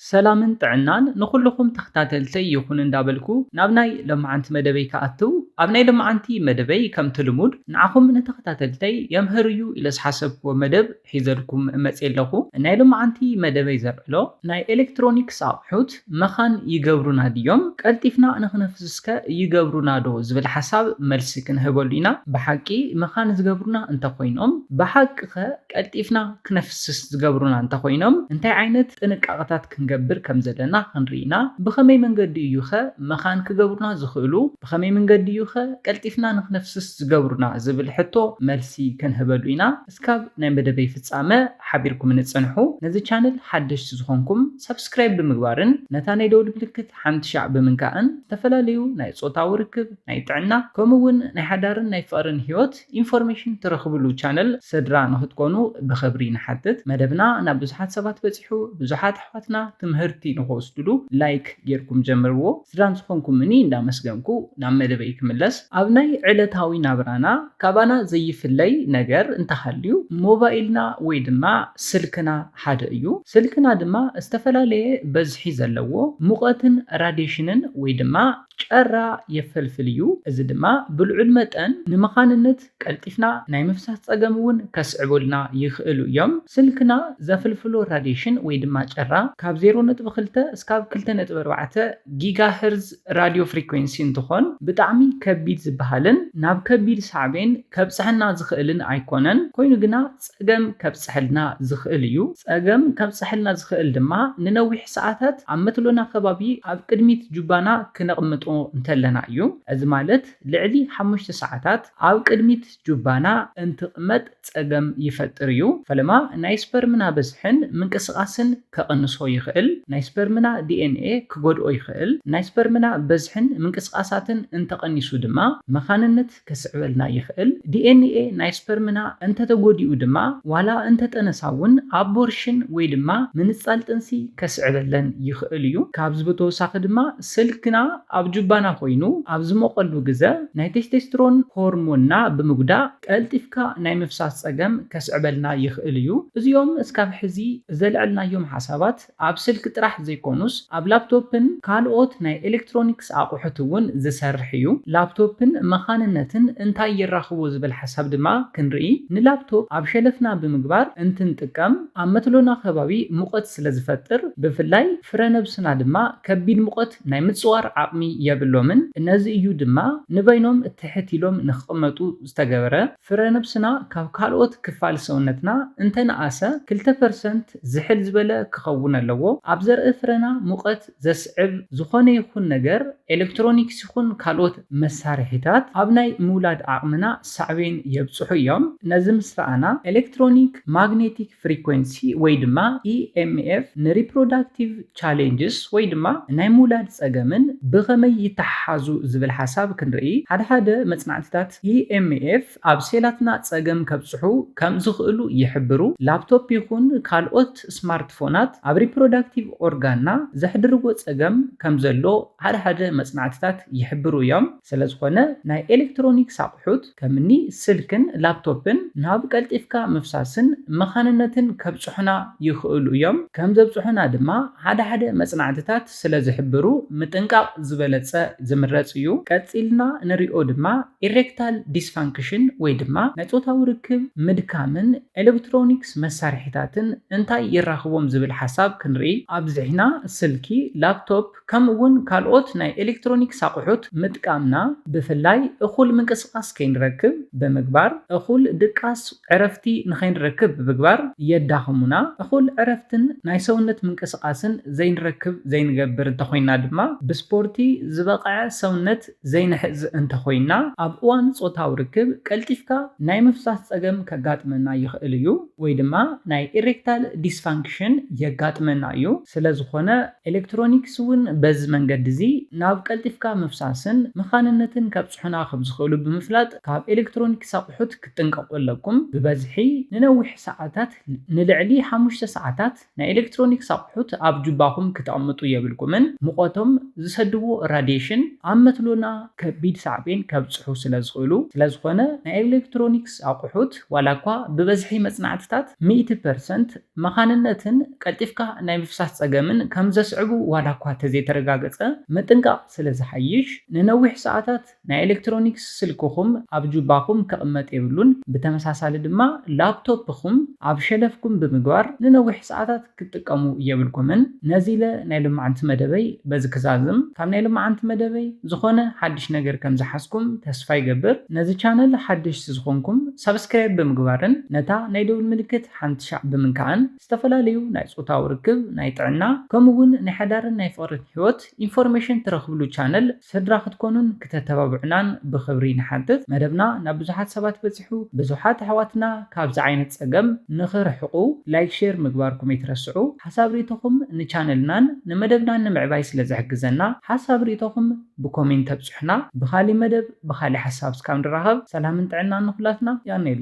ሰላምን ጥዕናን ንኹሉኹም ተኽታተልተይ ይኹን እንዳበልኩ ናብ ናይ ሎምዓንቲ መደበይ ክኣትው ኣብ ናይ ሎምዓንቲ መደበይ ከምቲ ልሙድ ንዓኹም ንተኽታተልተይ የምህር እዩ ኢለ ዝሓሰብክዎ መደብ ሒዘልኩም መጽየ ኣለኹ ናይ ሎምዓንቲ መደበይ ዘልዕሎ ናይ ኤለክትሮኒክስ ኣቕሑት መኻን ይገብሩና ድዮም ቀልጢፍና ንኽነፍስስ ከ ይገብሩና ዶ ዝብል ሓሳብ መልሲ ክንህበሉ ኢና ብሓቂ መኻን ዝገብሩና እንተኾይኖም ብሓቂ ከ ቀልጢፍና ክነፍስስ ዝገብሩና እንተ ዀይኖም፣ እንታይ ዓይነት ጥንቃቐታት ክንገብር ከም ዘለና ኽንርኢ ኢና። ብኸመይ መንገዲ እዩኸ መኻን ክገብሩና ዝኽእሉ? ብኸመይ መንገዲ እዩኸ ቀልጢፍና ንኽነፍስስ ዝገብሩና? ዝብል ሕቶ መልሲ ክንህበሉ ኢና። እስካብ ናይ መደበይ ፍጻመ ሓቢርኩምኒ ጽንሑ። ነዚ ቻነል ሓደሽቲ ዝዀንኩም፣ ሳብስክራይብ ብምግባርን ነታ ናይ ደወል ምልክት ሓምትሻዕ ብምንካእን፣ ዝተፈላለዩ ናይ ጾታዊ ርክብ፣ ናይ ጥዕና፣ ከምኡውን ናይ ሓዳርን ናይ ፍቕርን ህይወት፣ ኢንፎርሜሽን ትረኽብሉ ቻነል ሰድራ ንክትኮኑ ብክብሪ ንሓትት መደብና ናብ ብዙሓት ሰባት በጺሑ ብዙሓት ኣሕዋትና ትምህርቲ ንክወስድሉ ላይክ ጌርኩም ጀምርዎ ስድራን ዝኾንኩምኒ እንዳመስገንኩ ናብ መደበይ ክምለስ ኣብ ናይ ዕለታዊ ናብራና ካባና ዘይፍለይ ነገር እንተሃልዩ ሞባይልና ወይ ድማ ስልክና ሓደ እዩ ስልክና ድማ ዝተፈላለየ በዝሒ ዘለዎ ሙቐትን ራዴሽንን ወይ ድማ ጨራ የፈልፍል እዩ፣ እዚ ድማ ብልዑል መጠን ንመኻንንት ቀልጢፍና ናይ ምፍሳስ ጸገም እውን ከስዕቡልና ይኽእሉ እዮም። ስልክና ዘፍልፍሎ ራድየሽን ወይ ድማ ጨራ ካብ ዜሮ ነጥቢ ክልተ እስካብ ክልተ ነጥቢ ኣርባዕተ ጊጋ ህርዝ ራድዮ ፍሪኮንሲ እንትኾን ብጣዕሚ ከቢድ ዝበሃልን ናብ ከቢድ ሳዕቤን ከብጽሐና ዝኽእልን ኣይኮነን፣ ኮይኑ ግና ጸገም ከብጽሐልና ዝኽእል እዩ። ጸገም ከብጽሐልና ዝኽእል ድማ ንነዊሕ ሰዓታት ኣብ መትሎና ከባቢ ኣብ ቅድሚት ጁባና ክነቕምጦ እንተለና እዩ። እዚ ማለት ልዕሊ ሓሙሽተ ሰዓታት ኣብ ቅድሚት ጁባና እንትቕመጥ ጸገም ይፈጥር እዩ። ፈለማ ናይ ስፐርምና በዝሕን ምንቅስቓስን ከቕንሶ ይኽእል። ናይ ስፐርምና DNA ክጎድኦ ይኽእል። ናይ ስፐርምና በዝሕን ምንቅስቓሳትን እንተቐኒሱ ድማ መኻንነት። ከስዕበልና ይኽእል። ዲኤንኤ ናይ ስፐርምና እንተተጎዲኡ ድማ ዋላ እንተጠነሳ እውን ኣቦርሽን ወይ ድማ ምንጻል ጥንሲ ከስዕበለን ይኽእል እዩ። ካብዚ ብተወሳኺ ድማ ስልክና ኣብ ጁባና ኮይኑ ኣብ ዝሞቐሉ ግዘ ናይ ቴስቴስትሮን ሆርሞንና ብምጉዳእ ቀልጢፍካ ናይ ምፍሳስ ፀገም ከስዕበልና ይኽእል እዩ። እዚኦም እስካብ ሕዚ ዘልዐልናዮም ሓሳባት ኣብ ስልኪ ጥራሕ ዘይኮኑስ ኣብ ላፕቶፕን ካልኦት ናይ ኤሌክትሮኒክስ ኣቑሑት እውን ዝሰርሕ እዩ። ላፕቶፕን መኻንነትን እንታይ የራኽቦ ዝብል ሓሳብ ድማ ክንርኢ። ንላፕቶፕ ኣብ ሸለፍና ብምግባር እንትንጥቀም ኣብ መትሎና ከባቢ ሙቐት ስለ ዝፈጥር ብፍላይ ፍረ ነብስና ድማ ከቢድ ሙቐት ናይ ምፅዋር ዓቕሚ የብሎምን። ነዚ እዩ ድማ ንበይኖም ትሕት ኢሎም ንክቕመጡ ዝተገበረ። ፍረነብስና ካብ ካልኦት ክፋል ሰውነትና እንተ ነኣሰ ክልተ ፐርሰንት ዝሕል ዝበለ ክኸውን ኣለዎ። ኣብ ዘርኢ ፍረና ሙቐት ዘስዕብ ዝኾነ ይኹን ነገር፣ ኤለክትሮኒክስ ይኹን ካልኦት መሳርሒታት፣ ኣብ ናይ ምውላድ ዓቕምና ሳዕቤን የብጽሑ እዮም። ነዚ ምስ ረኣና፣ ኤለክትሮኒክ፣ ማግኔቲክ፣ ፍሪኮንሲ ወይ ድማ EMF ንሪፕሮዳክቲቭ ቻሌንጅስ ወይ ድማ ናይ ምውላድ ጸገምን ብኸመይ ይተሓሓዙ ዝብል ሓሳብ ክንርኢ፣ ሓደ ሓደ መጽናዕትታት EMF ኣብ ሴላትና ጸገም ከብጽሑ ከም ዝኽእሉ ይሕብሩ። ላፕቶፕ ይኹን ካልኦት ስማርትፎናት ኣብ ሪፕሮዳክቲቭ ኦርጋንና ዘሕድርዎ ጸገም ከም ዘሎ ሓደ ሓደ መጽናዕትታት ይሕብሩ እዮም። ስለዝኾነ ናይ ኤሌክትሮኒክስ ኣቑሑት፣ ከምኒ ስልክን ላፕቶፕን ናብ ቀልጢፍካ ምፍሳስን መኻንነትን ከብጽሑና ይኽእሉ እዮም፣ ከም ዘብጽሑና ድማ ሓደ ሓደ መጽናዕትታት ስለ ዝሕብሩ ምጥንቃቕ ዝበለጸ ዝምረጽ እዩ። ቀጺልና ንሪኦ ድማ ኢሬክታል ዲስፋንክሽን ወይ ድማ ናይ ጾታዊ ርክብ ምድካምን ኤለክትሮኒክስ መሳርሒታትን እንታይ የራኽቦም ዝብል ሓሳብ ክንርኢ ኣብዚሕና፣ ስልኪ፣ ላፕቶፕ፣ ከምኡ'ውን ካልኦት ናይ ኤሌክትሮኒክስ ኣቑሑት ምጥቃምና፣ ብፍላይ እኹል ምንቅስቓስ ከይንረክብ ብምግባር፣ እኹል ድቃስ፣ ዕረፍቲ፣ ንኸይንረክብ ብምግባር የዳኽሙና። እኹል ዕረፍትን ናይ ሰውነት ምንቅስቓስን ዘይንረክብ ዘይንገብር እንተኾይንና ድማ፣ ብስፖርቲ ዝበቕዐ ሰውነት ዘይንሕዝ እንተኾይንና፣ ኣብ እዋን ጾታዊ ርክብ ቀልጢፍካ ናይ ምፍሳስ ጸገም ከጋጥመና ይኽእል እዩ፣ ወይ ድማ ናይ ኢሬክታል ዲስፋንክሽን የጋጥመና እዩ። ስለዝኾነ፣ ኤለክትሮኒክስ እውን በዚ መንገዲ እዚ ናብ ቀልጢፍካ ምፍሳስን መኻንነትን ከብጽሑና ከም ዝኽእሉ ብምፍላጥ ካብ ኤለክትሮኒክስ ኣቑሑት ክትጥንቀቑ ኣለኩም። ብበዝሒ ንነዊሕ ሰዓታት፣ ንልዕሊ ሓሙሽተ ሰዓታት፣ ናይ ኤለክትሮኒክስ ኣቑሑት ኣብ ጁባኹም ክተቕምጡ የብልኩምን፣ ሙቐቶም ዝሰድዎ ራድየሽን ኣብ መትሎና ከቢድ ሳዕቤን ከብጽሑ ስለ ዝኽእሉ። ስለ ዝኾነ ናይ ኤለክትሮኒክስ ኣቑሑት ዋላኳ ብበዝሒ መጽናዕትታት ሚእቲ ፐርሰንት፣ መኻንነትን ቀልጢፍካ ናይ ምፍሳስ ጸገምን ከም ዘስዕቡ ዋላኳ እተዘይተረጋገጸ፣ ምጥንቃቕ ስለ ዝሓይሽ፣ ንነዊሕ ሰዓታት ናይ ኤለክትሮኒክስ ስልክኹም ኣብ ጁባኹም ክቕመጥ የብሉን፣ ብተመሳሳሊ ድማ ላፕቶፕኹም ኣብ ሸለፍኩም ብምግባር ንነዊሕ ሰዓታት ክትጥቀሙ የብልኩምን። ነዚ ኢለ ናይ ሎማዕንቲ መደበይ በዚ ክዛዝም። ካብ ናይ ሎማዕንቲ መደበይ ዝኾነ ሓድሽ ነገር ከም ዝሓዝኩም ተስፋ ይገብር። ነዚ ቻነል ሓደሽቲ ዝኾንኩም ሳብስክራይብ ብምግባርን ነታ ናይ ደውል ምልክት ሓንቲ ሻዕ ብምንካዕን ዝተፈላለዩ ናይ ፆታዊ ርክብ፣ ናይ ጥዕና ከምኡ እውን ናይ ሓዳርን ናይ ፍቕርን ሕይወት ኢንፎርሜሽን ትረኽብሉ ቻነል ስድራ ክትኮኑን ክተተባብዑናን ብኽብሪ ንሓትት። መደብና ናብ ብዙሓት ሰባት በፂሑ ብዙሓት ኣሕዋትና ካብዚ ዓይነት ፀገም ንኽርሕቑ ላይክ ሼር ምግባርኩም ኣይትረስዑ። ሓሳብ ሪኢቶኹም ንቻነልናን ንመደብናን ንምዕባይ ስለ ዝሕግዘና ሓሳብ ሪኢቶኹም ብኮሜንት ኣብፁሑና። ብኻሊእ መደብ ብኻሊእ ሓሳብ እስካብ ንራኸብ ሰላምን ጥዕናን ንኹላትና። ያኔሌ።